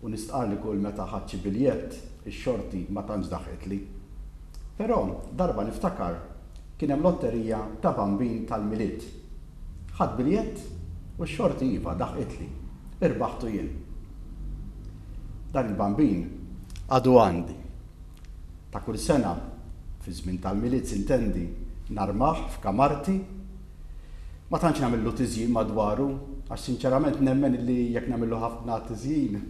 U nistqarr li kull meta ħadt xi biljett, ix-xorti ma tantx daħqitli. Però, darba niftakar, kien hemm lotterija ta' Bambin tal-Milied. Ħadt biljett u x-xorti iva, daħqitli. Irbaħtu jien. Dan il-Bambin. Għadu għandi. Ta' kull sena, fiż-żmien tal-Milied s'intendi, narmah f'kamarti. Ma tantx nagħmillu tiżjin madwaru għax sinċerament nemmen illi jekk nagħmillu ħafna tiżjin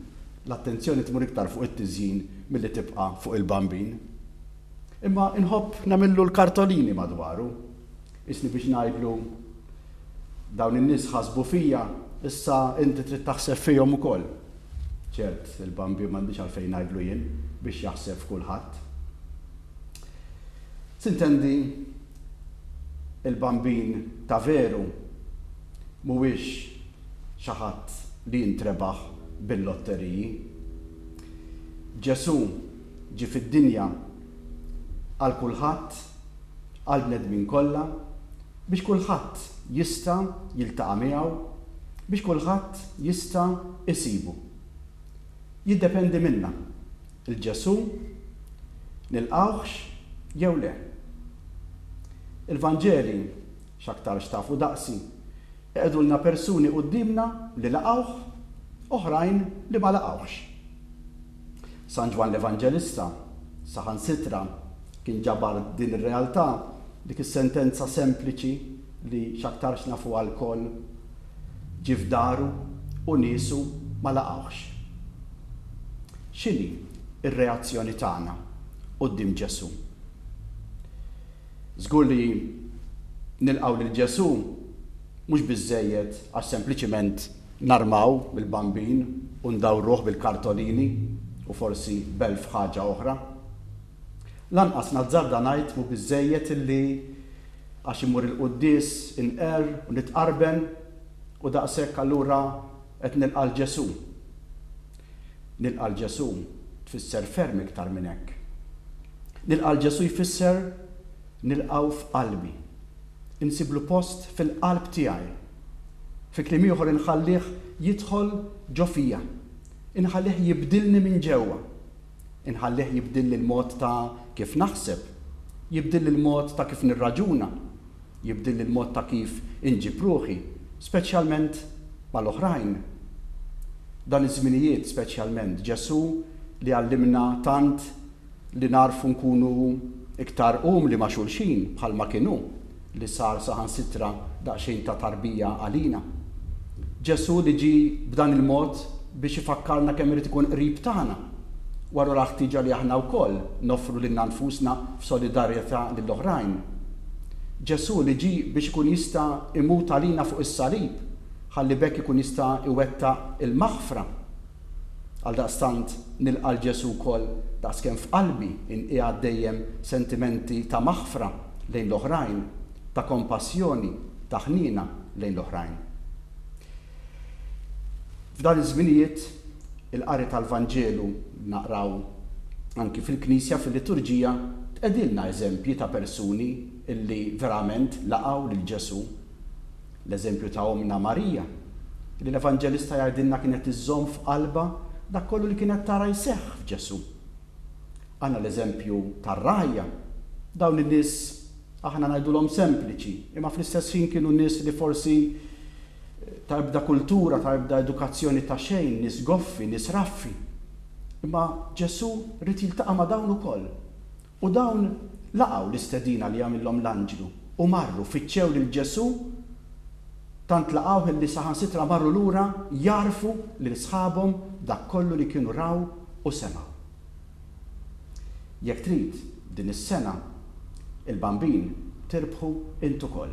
l-attenzjoni tmur iktar fuq it-tiżjin milli tibqa' fuq il-bambin. Imma inħobb nagħmillu l-kartolini madwaru. Qisni biex ngħidlu, Dawn in-nies ħasbu fija, issa inti trid taħseb fihom ukoll. Ċert, il-bambin m'għandix għalfejn ngħidlu jien biex jaħseb f'kulħadd. Tintendi, il-bambin ta' veru mhuwiex xi ħadd li jintrebaħ bil-lotteriji. Ġesù ġie fid-dinja għal kulħadd, għall-bnedmin kollha, biex kulħadd jista' jiltaqa' miegħu, biex kulħadd jista' isibu. Jiddependi minna. 'l Ġesù, nilqgħuhx jew le? Il-Vanġeli, x'aktarx tafu daqsi, iqegħdulna persuni quddiemna li laqgħuh, oħrajn li ma laqgħuhx. San Ġwann l-Evanġelista, saħansitra, kien ġabar din ir-realtà, dik is-sentenza sempliċi li x'aktarx nafuha lkoll, Ġie f'daru u niesu ma laqgħuhx. X'inhi r-reazzjoni tagħna quddiem Ġesù? Żgur li nilqgħu lil Ġesù mhux biżżejjed għax sempliċiment narmaw il-Bambin u ndawruh bil-kartolini u forsi b'elf ħaġa oħra. Lanqas nazzarda ngħid mhu biżżejjed illi għax immur il-quddies inqerr u nitqarben u daqshekk allura qed nilqa' 'l Ġesù. Nilqa' 'l Ġesù tfisser ferm iktar minn hekk. Nilqa' 'l Ġesù jfisser nilqgħu f'qalbi. Insiblu post fil-qalb tiegħi. Fi kliem ieħor inħallih jidħol ġo fija. Inħallih jibdilni minn ġewwa. Inħallih jibdilli l-mod ta' kif naħseb, jibdilli l-mod ta' kif nirraġuna, jibdilli l-mod ta' kif inġib ruħi, speċjalment mal-oħrajn. Dan iż-żminijiet speċjalment, Ġesù li għallimna tant li nagħrfu nkunu iktar umli ma' xulxin bħalma kien hu, li sar saħansitra daqsxejn ta' tarbija għalina. Ġesù li ġie b'dan il-mod biex ifakkarna kemm irid ikun qrib tagħna, wara ra l-ħtieġa li aħna wkoll noffru lilna nfusna f'solidarjetà lil oħrajn. Ġesù li ġie biex ikun jista' imut għalina fuq is-salib ħalli b'hekk ikun jista' iwettaq il-maħfra. Għaldaqstant nilqa' 'l Ġesù wkoll daqskemm f'qalbi nqiegħed dejjem sentimenti ta' maħfra lejn l-oħrajn, ta' kompassjoni, ta' ħniena lejn l-oħrajn. F'dan iż-żminijiet, il-qari tal-Vanġelu li naqraw anki fil-Knisja fil-Liturġija tqegħdilna eżempji ta' persuni li verament laqgħu lil Ġesù. L-eżempju ta' Ommna Marija, li l-Evanġelista jgħidilna kienet iżżomm f'qalbha dak kollu li kienet tara jseħħ f'Ġesù. Għandna l-eżempju tar-ragħajja. Dawn in-nies aħna ngħidulhom sempliċi, imma fl-istess ħin kienu nies li forsi ta' ebda kultura, ta' ebda edukazzjoni ta' xejn, nies goffi, nies raffi. Imma Ġesù ried jiltaqa' ma' dawn ukoll. U dawn laqgħu l-istedina li għamillhom l-anġlu, u marru, fittxew lil Ġesù, tant laqgħuh illi saħansitra marru lura jgħarrfu lil sħabhom dak kollu li kienu raw u semgħu. Jekk trid, din is-sena, il-Bambin tirbħu int ukoll.